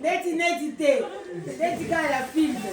neti neti te neti kaka ya filme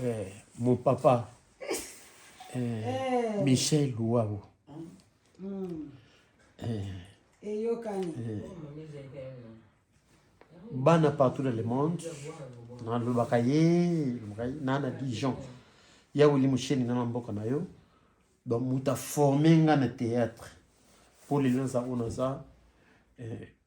Eh, mon papa eh, eh. Michel Wawo hmm. eyokani bana partout dans le monde nalobaka ye na na dijon ya wili mosheni nga na mboka na yo donc moto aforme nga na théâtre mpo lelo naza oyo naza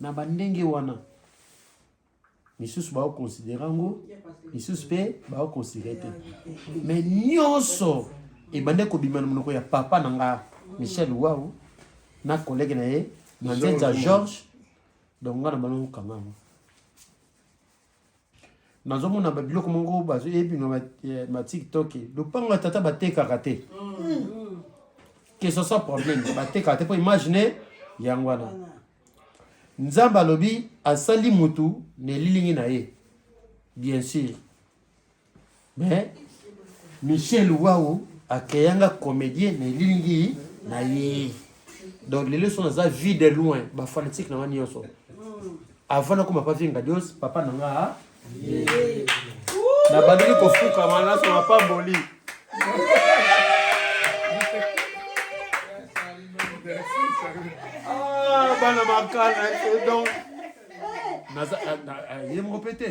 na bandenge wana misusu baokonsidere yango misusu mpe baokonsidere te me nyonso ebande kobima na monoko ya papa na nga michel wau na kolege na ye manzenza george donc nga na bana mokanga yango nazomona babiloko moko bazoyebi na batiktok eh, lopango ya tata batekaka te que ce soit problème batekaka te mpo imagine yango wana nzambe alobi asali motu na elilingi na ye bien sûr mais michel wau akeyanga comédien na elilingi na ye donc lelo so naza vie de loin bafanatique na nga nyonso avant nakoma pa vie ngadios papa na nga ah. nabandaki kofukama naso mapamboli ah, bana makala eh, donc naza ah, ah, ye moko mpe te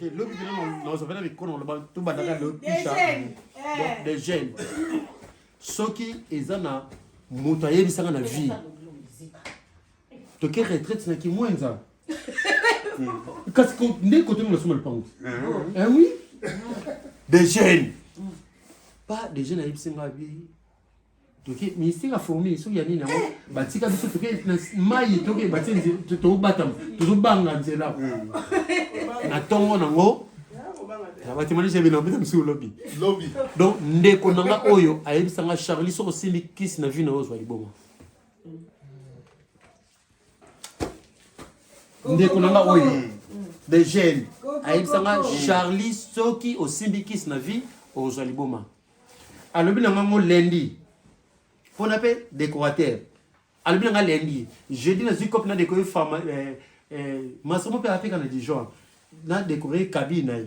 te lobi te nazovela mikolo naloba tobandaka de jeune soki eza na moto ayebisaka na vie toke retraite na kimwenza kasi nde kote ngo nasoma lopango eh oui de jeune pas de jeune ayebisi nga bi toke ministère ya fourmi soki ya nini yango batika biso toke na mai toke batie nzela tobatama tozobanga nzela hmm. na ntongo nango batemanise bino bino mosusu lobi lobi donc ndeko na nga oyo ayebisa nga charlie soki osimbi kisi na vie na yo ozwa liboma ndeko na nga oyo mm. de jeune ayebisa nga charlie soki osimbi kisi na vie okozwa liboma alobi na ngango lendi mpona mpe décorateur alobi na nga lendi jeudi nazwi cope na décore fama eh, eh, masomo mpe ateka na dijon na décore kabine na ye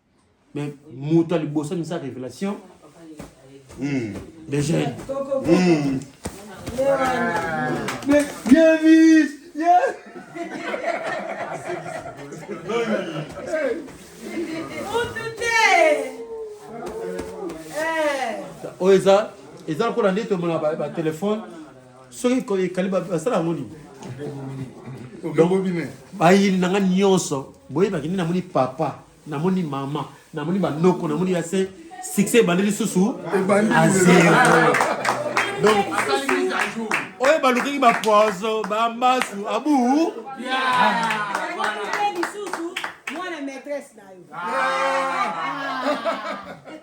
mais moto aliboso amisa révélation hmm. de jeune hmm. mais bien mis oyo eza eza lokola nde tomona batelefone soki ekali basala yango nini bayini na nga nyonso boyebaki nde namoni papa namoni mama namoni banoko namoni ya se succès ebandi lisusu azero donc oyo balukaki bapoison bambasu abu mwana maîtresse na yo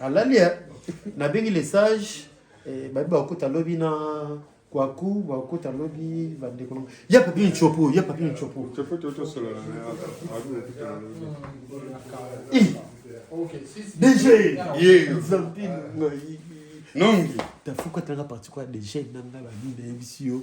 alali eh? nabengi le sage eh, babi bakokota lobi na kwaku bakokota lobi bandeko nango ya papi ncopo ya papi ncopo dj nongi tafuka tanga parti kwa dj nanga babi nayebisi yo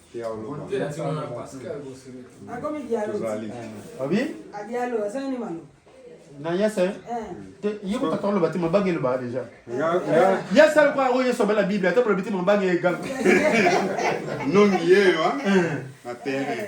nayese ye kotata oloba te mabange elobaka deja ye asali kwa yango yesu abela biblia ata bolobi te mabange eganga nongi yeyo na terrain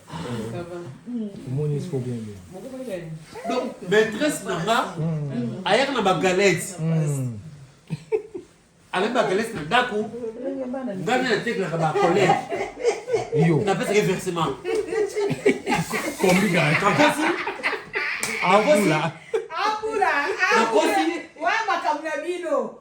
omoni esiko bien bien donc maîtresse na nga hmm. ayaka na bagalete hmm. avec bagalete na ndako ngai nde natekelaka bacolere napesaka ye versement nakosi nakosi nakosi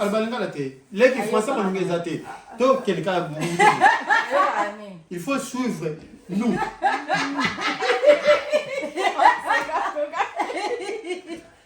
albalingala te leki français bolinga eza te tokende kaka il faut suivre nous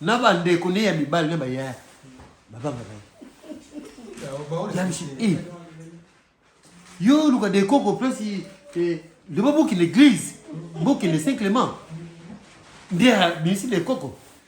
na bandeko nde ya mibali na bayaya babanga baye eh. yo oluka dekoko place eh, loba bokende église bokende saint clément nde abimisi dekoko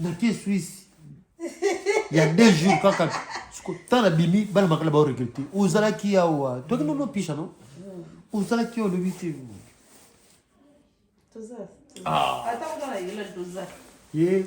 nake swisi ya deux jours kaka tala bimi bana makala bao regrete ozalaki yawa toki nono pisha no ozalaki yawa olobi te ye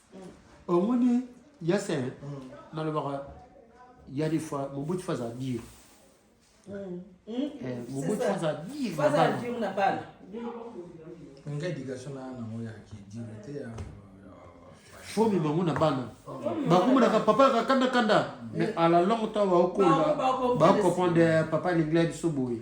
omoni yasin nalobaka ya des fois mobutu faza dire mobutu faza dire na bana nga éducation na nango ya kidire te ya fomi bango na bana bakomonaka papa yaka kanda kanda mais à la longue temps baokola baocomprendre papa lingla biso boye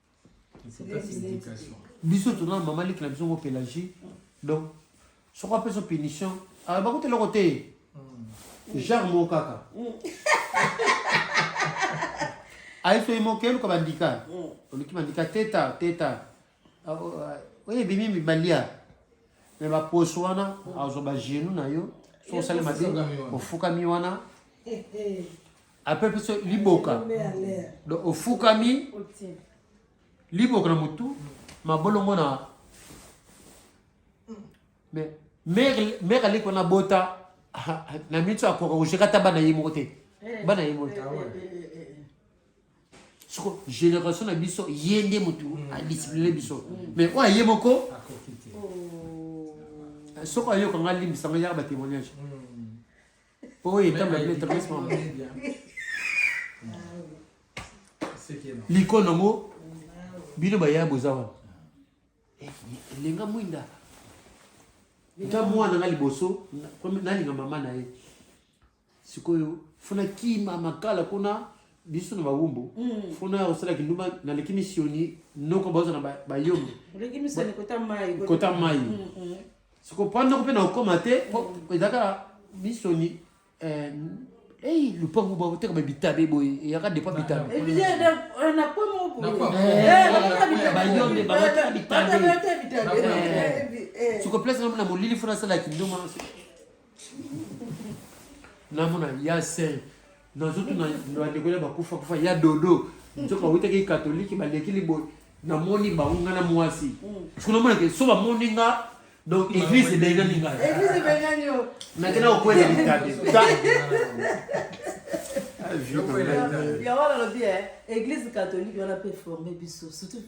biso tona mama liki na biso ngo pelagie donc soko apesa punition ayeba kuta eloko te hmm. genre moko kaka hmm. ayeso ye moko eluka bandika hmm. oluki bandika teta teta ah, oh, ah, oyo ebimi mibalia me baposo wana azwa bagenu na yo soko osali mabe ofukami wana eh, eh. apepe biso liboka donc ofukami liboka na motu mabolongo na mais mère aleki wana bota na miso akoka kojeka ata bana ye moko te eh, bana ye moko te eh, eh, soko génération na biso ye nde motu mm. adiscipline biso mm. mais oyo aye moko oh. soko ayoka nga limbisa nga yaka batémoignage mm. Oh, il est temps de mettre respect. L'icône en haut, bino baya bozawa. Eh, lenga mwinda. Nta mwana nga liboso, nalinga mama na ye. Sikoyo, funa kima makala kuna biso na bawumbu mm. funa ya kosala kindumba naleki misioni noko baoza na bayombe kota mai mm, mm. soko mpo ndako mpe na kokoma te mpo ezalaka na misoni eh, ei lupangu bakoteka babitabe boye eyaka depa bitabe bayombe bakoteka bitabe soko place namona molili fo nasala kindoma namona ya saint nazotuna bandeko ya bakufa kufa ya dodo nzoka awutaki katolike baleki liboye namoni bango nga na mwasi siko mm. namonake so bamoni nga donc église ebengani ngai nakenda kokwela litabe yango wana alobi eglise catholique wana mpe forme biso surtout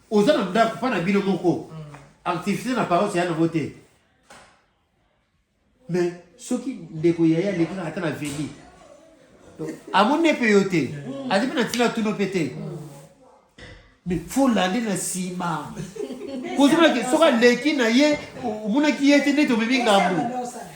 oza na ndako mpa na bino moko activité na paroisse ya nango te mais soki ndeko yaya aleki na ata na veli amoni mpe yo te azi mpe na ntina tuno mpe te mais fo lande na nsima kozomaki soki aleki na ye omonaki ye te nde tobebi ngambo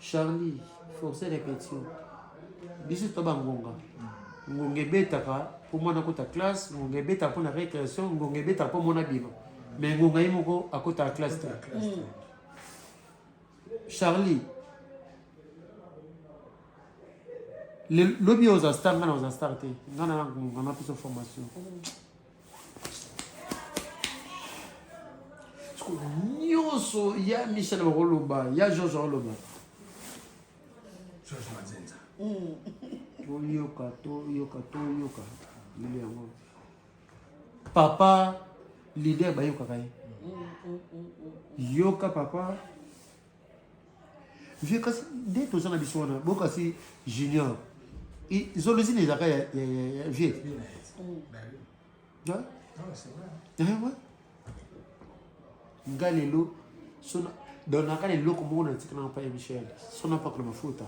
charlie force répétition biso to bangonga ngonga ebetaka mpo mwana akota classe ngonga ebetaka mpo na récréation ngonga ebetaka mpo mwana bima mais ngonga ye moko akotaka classe te mm. charlie lobi oza star nga na oza star te nga na ngonga na biso formation mm. nyonso ya michel bakoloba ya george akoloba george mazenza mm. toyoka toyoka toyoka lelo yango papa lider bayokaka ye mm, mm, yoka papa vieux kasi nde toza na biso wana bokasi junior zolozini ezalaka ya vieux nga lelo sona donaka na eloko moko na ntika na mpa ya michel sona pakolo mafuta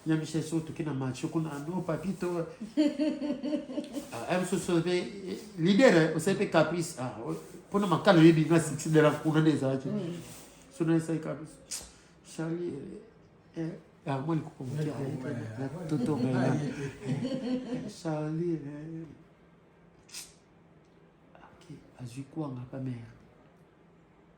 nyamisa so toke na match kuna no papito ah, msoso mpe eh, leader eh, osali mpe caprice ah, mpona makala oyebi nga succès de la kuna nde ezalaki mm. so na esali caprice charli eh, yango likoko moke totomela charli azwi kwanga kamere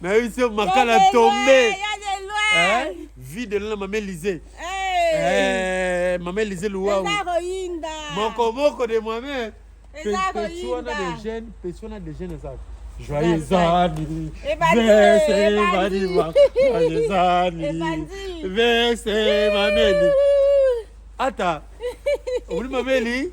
nayebisi yo makala tombe vie de lona mama elise eh, mama elise luwau mokomoko de moi-même pesi wana de jeune pesi wana de jeune ezaka Joyeux anniversaire, Joyeux anniversaire, Mameli. Attends, oui, Mameli.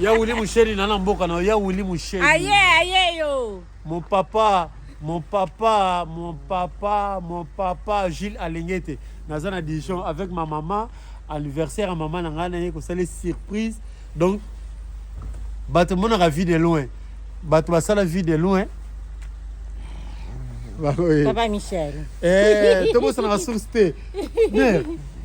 ya wili musheri na na mboka na ya wili musheri aye aye yo mon papa mon papa mon papa mon papa Gilles Alengete naza na Dijon avec ma maman anniversaire ya mama na ngai naye kosala surprise donc bato monaka vie de loin bato basala vie de loin papa michel eh, tobosanaka source te